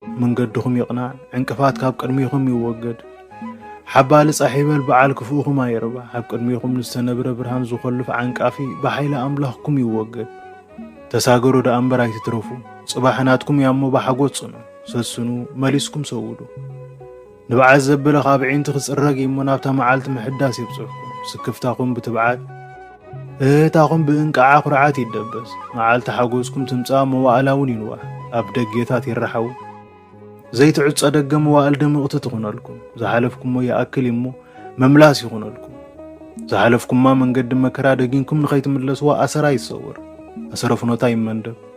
መንገድኹም ይቕናዕ፣ ዕንቅፋት ካብ ቅድሚኹም ይወገድ። ሓባሊ ጻሕ ይበል በዓል ክፉእኹም ኣይርባሕ፣ ኣብ ቅድሚኹም ንዝተነብረ ብርሃን ዝኾልፍ ዓንቃፊ ብሓይሊ ኣምላኽኩም ይወገድ። ተሳገሩ ደኣ እምበር ኣይትትረፉ፣ ጽባሕ ናትኩም እያሞ ብሓጎስ ጽንዑ፣ ሰስኑ፣ መሊስኩም ሰውዱ። ንብዓት ዘበለ ካብ ኣዒንቲ ክጽረግ እዩሞ ናብታ መዓልቲ ምሕዳስ የብጽሕኩም። ስክፍታኹም ብትብዓት፣ እህህታኹም ብእንቅዓ ኩርዓት ይደበስ። መዓልቲ ሓጎስኩም ትምጻእ መዋእላውን ይንዋሕ። ኣብ ደጌታት ይረሓው። ዘይትዕጾ ደገ መዋእል ድምቕቲ ትኹነልኩም። ዝሓለፍኩሞ ይኣክል እዩሞ መምላስ ይኹነልኩም። ዝሓለፍኩማ መንገዲ መከራ ደጊንኩም ንኸይትምለስዋ ኣሰራ ይሰወር። ኣሰረ ፍኖታ ይመንደብ።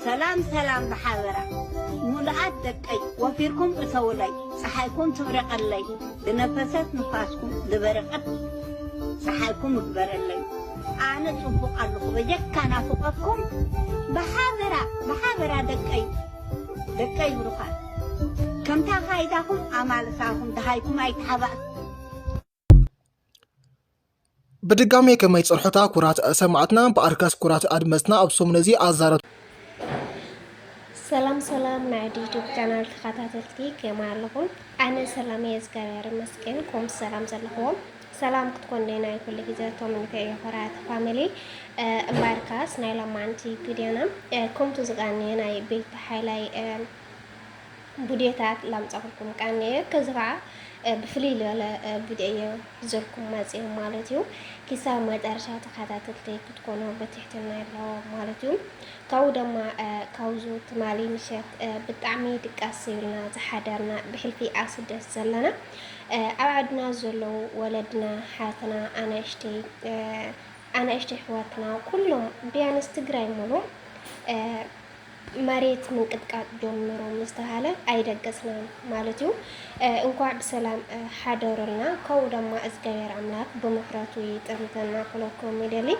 ሰላም ሰላም ብሓበራ ሙሉኣት ደቀይ ወፊርኩም እተዉለይ ጸሓይኩም ትብረቀለይ ብነፈሰት ንፋስኩም ዝበረቀት ጸሓይኩም እግበረለይ ኣነ ጽቡቅ ኣለኹ በጀካ ናፍቆትኩም ብሓበራ ብሓበራ ደቀይ ደቀይ ብሩኻት ከምታ ካይዳኹም ኣማልሳኹም ደሃይኩም ኣይተሓባእኩም ብድጋሜ ከመይ ጽርሖታ ኩራት ሰማዕትና ብኣርካስ ኩራት ኣድመጽና ኣብ ሰሙን እዚ ኣዛረብ ሰላም ሰላም ናይ ዩቱብ ቻናል ተኸታተልቲ ከመ ኣለኹም? ኣነ ሰላም እየ እግዚኣብሔር ይመስገን። ኮም ሰላም ዘለኹዎም ሰላም ክትኮኑ ናይ ኩሉ ግዜ ተመኒተ እየ ኮራት ፋሚሊ እምባርካስ ናይ ሎማንቲ ቪድዮና ከምቱ ዝቃንየ ናይ ቤት ሓይላይ ቡዴታት ላምጻኹልኩም ቀንየ ከዚ ከኣ ብፍልይ ልበለ ቡዴ እየ ዘልኩም መጽየ ማለት እዩ ኪሳብ መጨረሻ ተኸታተልተይ ክትኮኑ ብትሕትና ኣለዎ ማለት እዩ ካብኡ ደማ ካብዙ ትማሊ ምሸት ብጣዕሚ ድቃስ ስብልና ዝሓደርና ብሕልፊ ኣስደስ ዘለና ኣብ ዓድና ዘለዉ ወለድና ሓትና ኣናእሽተይ ኣናእሽተይ ሕዋትና ኩሎም ቢያንስ ትግራይ ሙሉ መሬት ምንቅጥቃጥ ጀምሩ ምስ ተሃለ ኣይደገጽናን ማለት እዩ እንኳዕ ብሰላም ሓደሩልና ከው ደማ እዝጋብሔር ኣምላክ ብምሕረቱ ይጠምተና ክለኩም ይደሊ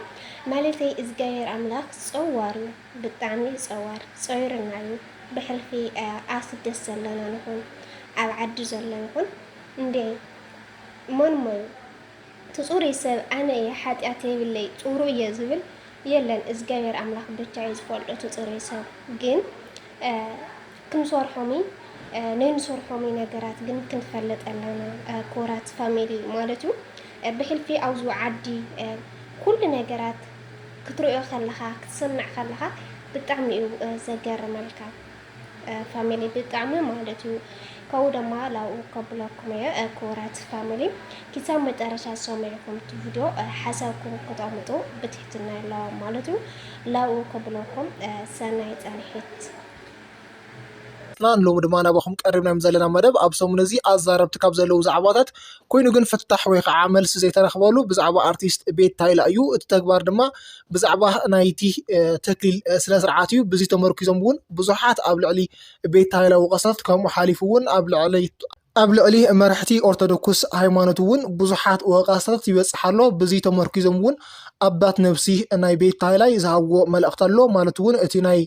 ማለተይ እዝጋብሔር ኣምላክ ጸዋር እዩ ብጣዕሚ እዩ ጸዋር ጸይርና እዩ ብሕልፊ ኣስደስ ዘለና ንኹን ኣብ ዓዲ ዘሎ ይኹን እንዴ መን ሞዩ እቲ ጹሩይ ሰብ ኣነ እየ ሓጥያት የብለይ ጹሩይ እየ ዝብል የለን እዝጋብሄር ኣምላክ ብቻ እዩ ዝፈልጦ እቲ ጹሩይ ሰብ ግን ክንሶርሖምይ ነይንሶርሖምይ ነገራት ግን ክንፈልጥ ኣለና ኩራት ፋሚሊ ማለት እዩ ብሕልፊ ኣውዙ ዓዲ ኩሉ ነገራት ክትርእዮ ከለካ ክትሰምዕ ከለካ ብጣዕሚ እዩ ዘገርመልካ ፋሚሊ ብጣዕሚ ማለት እዩ ከኡ ደማ ላኡ ከብለኩም እየ ክቡራት ፋሚሊ ኪሳብ መጨረሻ ሰሚዕኩም እቲ ቪድዮ ሓሳብኩም ክተቕምጡ ብትሕትና ኣለዋ ማለት እዩ ላኡ ከብለኩም ሰናይ ፃንሒት ናን ሎሚ ድማ ናባኹም ቀሪብናዮም ዘለና መደብ ኣብ ሰሙን እዚ ኣዛረብቲ ካብ ዘለዉ ዛዕባታት ኮይኑ ግን ፍታሕ ወይ ከዓ መልሲ ዘይተረኽበሉ ብዛዕባ ኣርቲስት ቤት ታይላ እዩ እቲ ተግባር ድማ ብዛዕባ ናይቲ ተክሊል ስነ ስርዓት እዩ ብዚ ተመርኪዞም እውን ብዙሓት ኣብ ልዕሊ ቤት ሃይለ ወቀሰፍት ከምኡ ሓሊፉ እውን ኣብ ልዕሊ ኣብ ልዕሊ መራሕቲ ኦርቶዶክስ ሃይማኖት እውን ብዙሓት ወቀሰፍት ይበፅሕ ኣሎ ብዚ ተመርኪዞም እውን ኣባት ነብሲ ናይ ቤት ሃይላይ ዝሃብዎ መልእክቲ ኣሎ ማለት እውን እቲ ናይ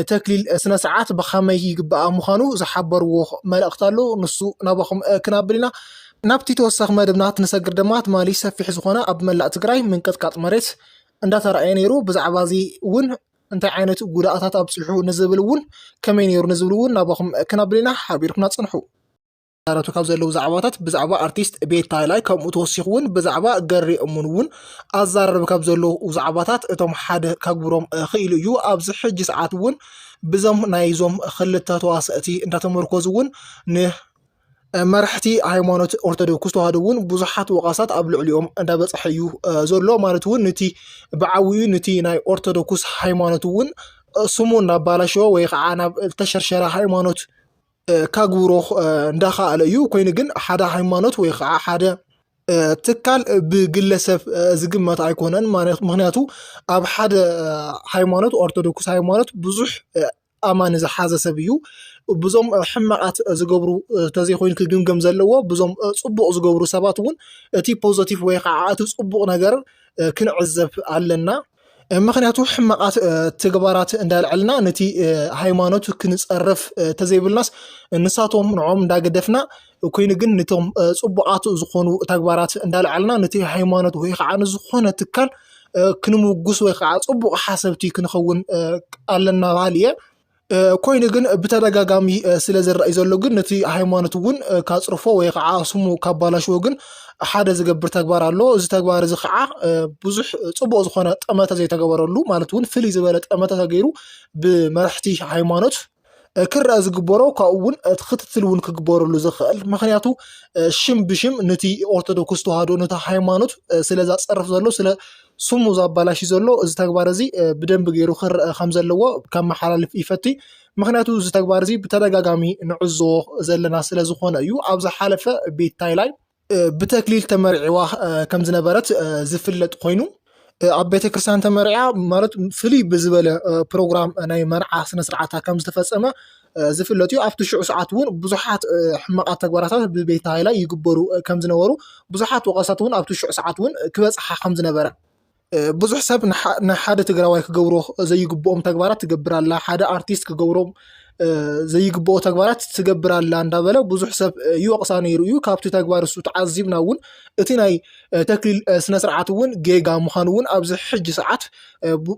ተክሊል ስነ ስርዓት ብኸመይ ይግባኣ ምዃኑ ዝሓበርዎ መልእኽቲ ኣሎ ንሱ ናባኹም ክናብል ኢና ናብቲ ተወሳኺ መደብና ትንሰግር ድማ ትማሊ ሰፊሕ ዝኾነ ኣብ መላእ ትግራይ ምንቅጥቃጥ መሬት እንዳተረኣየ ነይሩ ብዛዕባ እዚ እውን እንታይ ዓይነት ጉድኣታት ኣብፅሑ ንዝብል እውን ከመይ ነይሩ ንዝብል እውን ናባኹም ክናብል ኢና ሓቢርኩና ፅንሑ ዝዛረቱ ካብ ዘለዉ ዛዕባታት ብዛዕባ ኣርቲስት ቤት ታይላይ ከምኡ ተወሲኹ እውን ብዛዕባ ገሬ እሙን እውን ኣዛረብ ካብ ዘለዉ ዛዕባታት እቶም ሓደ ከግብሮም ክኢሉ እዩ ኣብዚ ሕጂ ሰዓት እውን ብዞም ናይዞም ክልተ ተዋሰእቲ እንዳተመርኮዙ እውን ን መራሕቲ ሃይማኖት ኦርቶዶክስ ተዋህዶ እውን ብዙሓት ወቐሳት ኣብ ልዕሊኦም እንዳበፅሐ እዩ ዘሎ ማለት እውን ንቲ ብዓብኡ ንቲ ናይ ኦርቶዶክስ ሃይማኖት እውን ስሙ እናባላሸወ ወይ ከዓ ናብ ተሸርሸረ ሃይማኖት ከግብሮ እንዳኸኣለ እዩ ኮይኑ ግን ሓደ ሃይማኖት ወይ ከዓ ሓደ ትካል ብግለሰብ ዝግመት ኣይኮነን ምክንያቱ ኣብ ሓደ ሃይማኖት ኦርቶዶክስ ሃይማኖት ብዙሕ ኣማኒ ዝሓዘ ሰብ እዩ ብዙም ሕማቓት ዝገብሩ ተዘይኮይኑ ክግምገም ዘለዎ ብዙም ጽቡቕ ዝገብሩ ሰባት እውን እቲ ፖዘቲቭ ወይ ኸዓ እቲ ጽቡቕ ነገር ክንዕዘብ ኣለና። ምክንያቱ ሕማቃት ትግባራት እንዳልዐልና ነቲ ሃይማኖት ክንፀርፍ ተዘይብልናስ ንሳቶም ንዖም እንዳገደፍና ኮይኑ ግን ነቶም ፅቡቃት ዝኾኑ ተግባራት እንዳልዐልና ነቲ ሃይማኖት ወይ ከዓ ንዝኾነ ትካል ክንምጉስ ወይ ከዓ ፅቡቅ ሓሰብቲ ክንኸውን ኣለና በሃሊ እየ። ኮይኑ ግን ብተደጋጋሚ ስለ ዝረኣይ ዘሎ ግን ነቲ ሃይማኖት እውን ካፅርፎ ወይ ከዓ ስሙ ካባላሽዎ ግን ሓደ ዝገብር ተግባር ኣሎ እዚ ተግባር እዚ ከዓ ብዙሕ ፅቡቅ ዝኮነ ጠመተ ዘይተገበረሉ ማለት እውን ፍልይ ዝበለ ጠመተ ተገይሩ ብመራሕቲ ሃይማኖት ክረአ ዝግበሮ ካብኡ እውን እቲ ክትትል እውን ክግበረሉ ዝኽእል ምክንያቱ ሽም ብሽም ነቲ ኦርቶዶክስ ተዋህዶ ነቲ ሃይማኖት ስለ ዘፀርፍ ዘሎ ስለ ስሙ ዘባላሽ ዘሎ እዚ ተግባር እዚ ብደንቢ ገይሩ ክረአ ከም ዘለዎ ከመሓላልፍ ይፈቲ ምክንያቱ እዚ ተግባር እዚ ብተደጋጋሚ ንዕዞ ዘለና ስለ ዝኾነ እዩ ኣብ ዝሓለፈ ቤት ታይላይ ብተክሊል ተመርዒዋ ከም ዝነበረት ዝፍለጥ ኮይኑ ኣብ ቤተ ክርስትያን ተመርዓ ማለት ፍልይ ብዝበለ ፕሮግራም ናይ መርዓ ስነስርዓታ ከም ዝተፈፀመ ዝፍለጥ እዩ። ኣብቲ ሽዑ ሰዓት እውን ብዙሓት ሕማቓት ተግባራታት ብቤት ሃይላይ ይግበሩ ከም ዝነበሩ ብዙሓት ወቐሳት እውን ኣብቲ ሽዑ ሰዓት እውን ክበፅሓ ከም ዝነበረ ብዙሕ ሰብ ንሓደ ትግራዋይ ክገብሮ ዘይግብኦም ተግባራት ትገብር ኣላ፣ ሓደ ኣርቲስት ክገብሮም ዘይግብኦ ተግባራት ትገብር ኣላ እንዳበለ ብዙሕ ሰብ ይወቕሳ ነይሩ እዩ። ካብቲ ተግባር እሱ ተዓዚብና እውን እቲ ናይ ተክሊል ስነ ስርዓት እውን ጌጋ ምዃኑ እውን ኣብዚ ሕጂ ሰዓት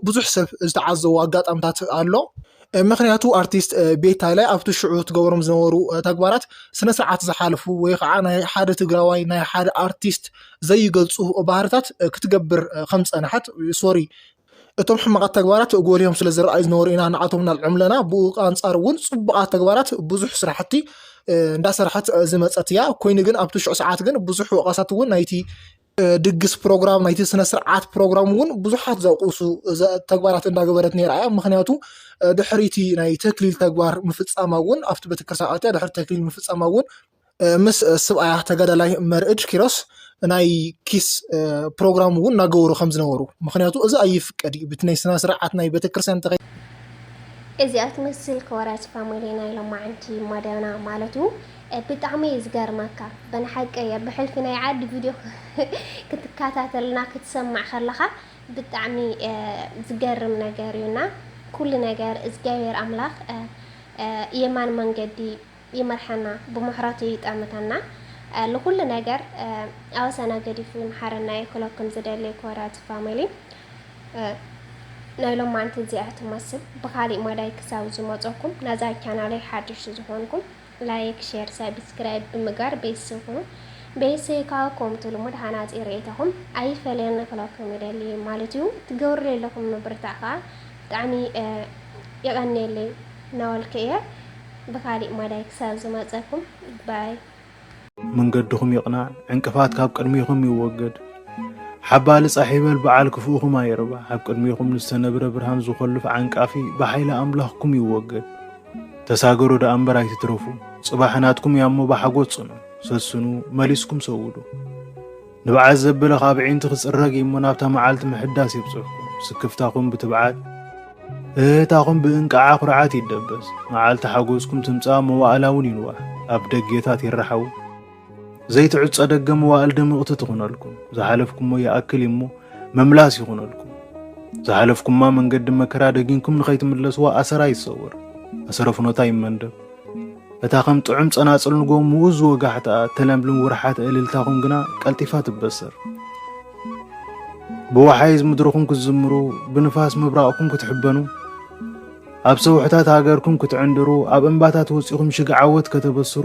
ብዙሕ ሰብ ዝተዓዘቦ ኣጋጣምታት ኣሎ። ምክንያቱ ኣርቲስት ቤታለ ኣብቲ ሽዑ ትገብሮም ዝነበሩ ተግባራት ስነ ስርዓት ዝሓልፉ ወይ ከዓ ናይ ሓደ ትግራዋይ ናይ ሓደ ኣርቲስት ዘይገልፁ ባህርታት ክትገብር ከም ፀንሐት ሶሪ እቶም ሕማቓት ተግባራት ጎሊሆም ስለ ዝረኣዩ ዝነበሩ ኢና ንኣቶም ናልዕም ለና ብኡ ኣንፃር እውን ፅቡቓት ተግባራት ብዙሕ ስራሕቲ እንዳሰርሐት ዝመፀት እያ ኮይኑ ግን ኣብቲ ሽዑ ሰዓት ግን ብዙሕ ወቐሳት እውን ናይቲ ድግስ ፕሮግራም ናይቲ ስነ ስርዓት ፕሮግራም እውን ብዙሓት ዘቁሱ ተግባራት እንዳገበረት ነራ እያ ምክንያቱ ድሕሪቲ ናይ ተክሊል ተግባር ምፍፃማ እውን ኣብቲ ቤተክርስትያን ኣትያ ድሕሪ ተክሊል ምፍፃማ እውን ምስ ስብኣያ ተጋዳላይ መርእድ ኪሮስ ናይ ኪስ ፕሮግራም እውን እናገበሩ ከም ዝነበሩ ምክንያቱ እዚ ኣይፍቀድ እዩ ብቲ ናይ ስነ ስርዓት ናይ ቤተክርስትያን ተኸ እዚኣ ትመስል ከወራጅ ፋሚሊ ናይ ሎማዓንቲ መደብና ማለት እዩ ብጣዕሚ እዩ ዝገርመካ በናሓቂ እየ ብሕልፊ ናይ ዓዲ ቪድዮ ክትካታተልና ክትሰምዕ ከለኻ ብጣዕሚ ዝገርም ነገር እዩ እና ኩሉ ነገር እዝጋብሔር ኣምላኽ የማን መንገዲ ይምርሐና ብምሕረቱ ይጠምተና ልኹሉ ነገር ኣወሰና ገዲፉ ይምሓረና እየ ክለኩም ዝደሊ ኮርያት ፋሚሊ ናይ ሎማንቲ እዚኣ ትመስል ብካሊእ መዳይ ክሳብ ዝመፀኩም ናዛ ቻናለይ ሓድሽ ዝኾንኩም ላይክ ሼር ሳብስክራይብ ብምጋር ቤተሰብ ኩኑ ቤተሰይ ካኣ ኮምቱ ልሙድ ሃናጺ ርኢቶኹም ኣይፈለየኒ ክለኩም ይደሊ ማለት ዩ ትገብርለይ ኣለኹም ምብርታዕ ካኣ ብጣዕሚ የቀንየለይ ናበልኩ እየ ብካሊእ ማዳይ ክሳብ ዝመጸኩም ባይ። መንገድኹም ይቕናዕ ዕንቅፋት ካብ ቅድሚኹም ይወገድ ሓባሊ ጻሕ ይበል በዓል ክፉእኹም ኣይርባሕ ኣብ ቅድሚኹም ንዝተነብረ ብርሃን ዝኾልፍ ዓንቃፊ ብሓይሊ ኣምላኽኩም ይወገድ። ተሳገሩ ደኣ እምበር ኣይትትረፉ፣ ጽባሕ ናትኩም እያ እሞ ብሓጎስ ጽኑ፣ ሰስኑ፣ መሊስኩም ሰውዱ። ንብዓት ዘበለ ካብ ኣዒንቲ ክጽረግ እዩ እሞ ናብታ መዓልቲ ምሕዳስ የብጽሕኩም፣ ስክፍታኹም ብትብዓት፣ እህህታኹም ብእንቅዓ ኩርዓት ይደበስ፣ መዓልቲ ሓጎስኩም ትምጻእ መዋእላ እውን ይንዋሕ፣ ኣብ ደጌታት ይረሓው። ዘይትዕጾ ደገ መዋእል ድምቕቲ ትኹነልኩም፣ ዝሓለፍኩሞ ይኣክል እሞ ምምላስ ይኹነልኩም። ዝሓለፍኩማ መንገዲ መከራ ደጊንኩም ንኸይትምለስዋ ኣሰራ ይሰወር፣ ኣሰረ ፍኖታ ይመንደብ። እታ ከም ጥዑም ጸናጽል ንጎ ምኡዝ ወጋሕታኣ እተለምልም ውርሓት እልልታኹም ግና ቀልጢፋ ትበሰር። ብወሓይዝ ምድርኹም ክትዝምሩ፣ ብንፋስ ምብራቕኩም ክትሕበኑ፣ ኣብ ሰውሕታት ሃገርኩም ክትዕንድሩ፣ ኣብ እምባታት ወጺኹም ሽግ ዓወት ከተበስሩ፣